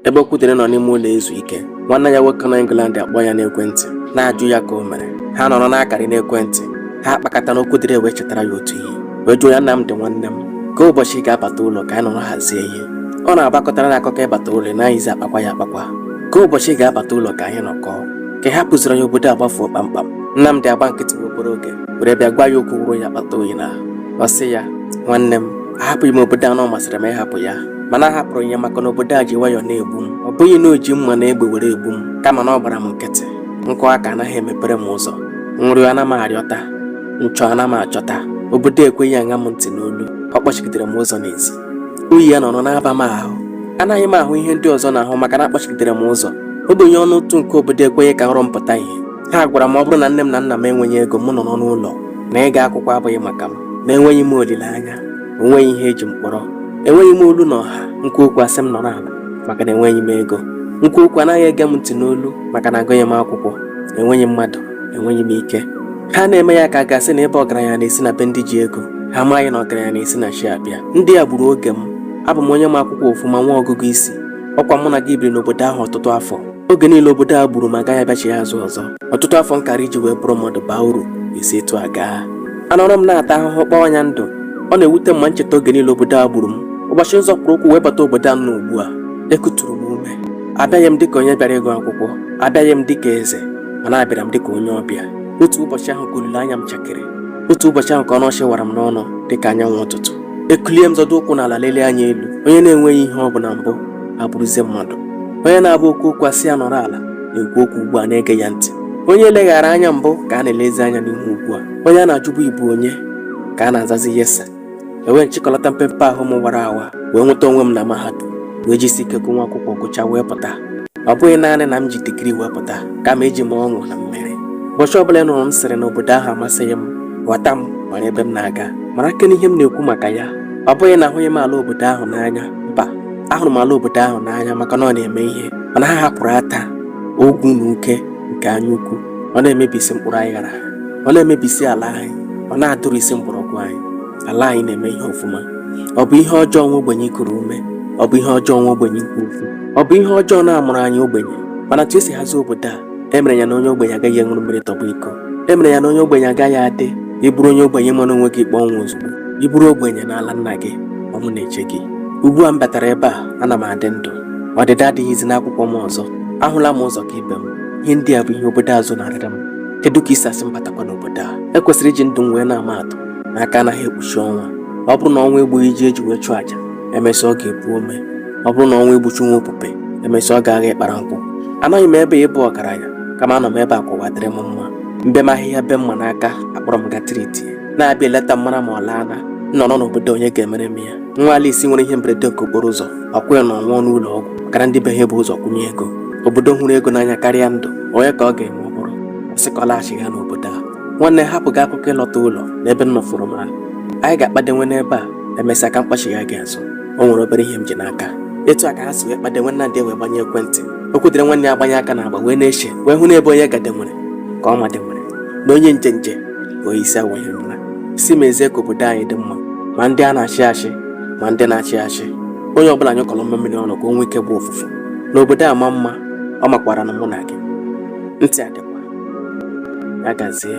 Ebe Okwudịrị nọ n'ime ụlọ ezu ike, nwanne ya nwoke nọ England akpọọ ya n'ekwentị, na-ajụ ya ka o mere. Ha nọrọ na-akarị n'ekwentị, ha akpakata na Okwudịrị wee chetara ya otu ihe, wee jụọ ya Nnamdị nwanne m, kee ụbọchị ị ga-abata ụlọ ka anyị nọrọ hazie ihe. Ọ na-abụ a kọtara na akụkọ ịbata ụlọ ị naghịzi akpakwa ya akpakwa. Kee ụbọchị ị ga-abata ụlọ ka anyị nọkọọ. Ka ị hapụziri ya obodo a gbafuo kpamkpam. Nnamdị agbaa nkịtị nwa obere oge, were bịa gwa ya okwu wụrụ ya akpata oyi n'ahụ. Ọ sị ya, nwanne m, ahapụghị m obodo a na ọ masịrị m ịhapụ ya. mana ahapụrụ m ya maka na obodo a ji nwayọọ na-egbu m ọ bụghị na o ji mma na egbe were egbu m kama na ọ gbara m nkịtị m kụọ aka anaghị emepere m ụzọ m rịọ ana m arịọta m chọọ ana m achọta obodo ekweghị aṅa m ntị n'olu ọ kpọchigidere m ụzọ n'ezi oyi ya nọrọ na-aba m ahụ anaghị m ahụ ihe ndị ọzọ na-ahụ maka na a kpọchigidere m ụzọ ogbenye ọnụ ntụ nke obodo ekweghị ka nrọ m pụta ihe ha gwara m ọ bụrụ na nne m na nna m enweghị ego m nọrọ n'ụlọ na ịga akwụkwọ abụghị maka m na enweghị m olileanya o nweghị ihe e ji m kpọrọ enweghị m olu na ọha m kwuo okwu a sị m nọrọ ala maka na enweghị m ego m kwuo okwu anaghị ege m ntị n'olu maka na agụghị m akwụkwọ enweghị mmadụ enweghị m ike ha na-eme ya ka a ga-asị na ịba ọgaranya na-esi na be ndị ji ego ha amaghị na ọgaranya na-esi na chi abịa ndị a gburu oge m abụ m onye ma akwụkwọ ọfụma nwee ọgụgụ isi ọ kwa mụ na gị biri n'obodo ahụ ọtụtụ afọ oge niile obodo a gburu m agaghị abịachigha azụ ọzọ ọtụtụ afọ m kara iji wee bụrụ mmadụ baa uru esi etu a gaa anọrọ m na-ata ahụhụ kpọọ anya ndụ ọ na-ewute m ma m cheta oge niile obodo a gburu m ụbọchị m zọpụrụ ụkwụ wee bata obodo a m nọ ugbu a ekuturu m ume abịaghị m dịka onye bịara ịgụ akwụkwọ abịaghị m dịka eze mana abịara m dịka onye ọbịa otu ụbọchị ahụ ka olileanya m chakịrị otu ụbọchị ahụ ka ọnụ ọchị wara m n'ọnụ dịka anyanwụ ụtụtụ ekulie m zọdo ụkwụ n'ala lelee anya elu onye na-enweghị ihe ọ bụ na mbụ abụrụzie mmadụ onye na-abụ o kwuo okwu a sị ya nọrọ ala na-ekwu okwu ugbu a a na-ege ya ntị onye e leghara anya mbụ ka a na-elezi anya n'ihu ugbu a onye a na-ajụbụ ị bụ onye ka a na-azazi yes sir ewee m chịkọlata mpempe ahụ m wara awa wee nweta onwe m na mahadum wee jisi ike gụọ nwa akwụkwọ gụchaa wee pụta ọ bụghị naanị na m ji degree wee pụta kama eji m ọṅụ na mmeri ụbọchị ọbụla ị nụrụ m sịrị na obodo ahụ amasịghị m ghọta m mara ebe m na-aga mara kene ihe m na-ekwu maka ya ọ bụghị na ahụghị m ala obodo ahụ n'anya mba ahụrụ m ala obodo ahụ n'anya maka na ọ na-eme ihe mana ha hapụrụ ata ogwu na uke nke anya ukwu ọ na-emebisi mkpụrụ anyị ghara ọ na-emebisi ala anyị ọ na-adụrụ isi mgbọrọgwụ anyị ala anyị na-eme ihe ọfụma ọ bụ ihe ọjọọ nwa ogbenye ikuru ume ọ bụ ihe ọjọọ nwa ogbenye ikwu okwu ọ bụ ihe ọjọọ na a mụrụ anyị ogbenye mana etu e si hazie obodo a e mere ya na onye ogbenye agaghị aṅụrụ mmiri tọgbọ iko e mere ya na onye ogbenye agaghị adị ị bụrụ onye ogbenye mara onwe gị ikpe ọnwụ ozugbo ị bụrụ ogbenye n'ala nna gị ọnwụ na-eche gị ugbu a m batara ebe a ana m adị ndụ ọdịda adịghịzi n'akwụkwọ m ọzọ ahụla m ụzọ ka ibe m ihe ndị a bụ ihe obodo a zonarịrị m kedu ka i si asị m batakwa n'obodo a e kwesịrị iji ndụ m wee na-ama atụ na aka anaghị ekpuchi ọnwa ọ bụrụ na ọnwụ egbughị ji e ji wee chụọ àjà e mesịa ọ ga-epu ome ọ bụrụ na ọnwụ egbuchi nwa opupe emesịa ọ ga-agha ịkpara nkwụ anaghị m ebe ịbụ ọgaranya kama ana m ebe ka ụwa dịrị m mma mbe m ahịhịa be mma n'aka akpọrọ m gatiriti na-abịa eleta m mara ma ọ laana nọrọ n'obodo onye ga-emere m ya nwa alisi nwere ihe mberede nke okporo ụzọ ọkwụ ya na ọ nwụọ n'ụlọ ọgwụ ọkara ndị be ha bu ụzọ kwụnye ego obodo hụrụ ego n'anya karịa ndụ onye ka ọ ga-eme ọ bụrụ sị ka ọ laghachigha n'obodo a nwanne hapụ gị akụkọ ịlọta ụlọ n'ebe m nọfụrụ m ha anyị ga-akpadenwe n'ebe a emesịa ka m kpọchigha gị azụ o nwere obere ihe m ji n'aka etu a ka ha si wee kpadenwe nnamdị wee gbanye ekwentị okwudịrị nwanne ya gbanye aka n'agba wee na-eche wee hụ na ebe onye gadenwere ka ọ madenwere na onye njenje ka onye isi awọ ihe ama sị mezie ka obodo anyị dị mma ma ndị a na-achị achị ma ndị na-achị achị onye ọbụla nyụkọrọ mamịrị ọnụ ka o nwee ike gbọọ ụfụfụ na obodo amaa mma ọ makwara na mụ na gị ntị ọ dịkwa ya gazie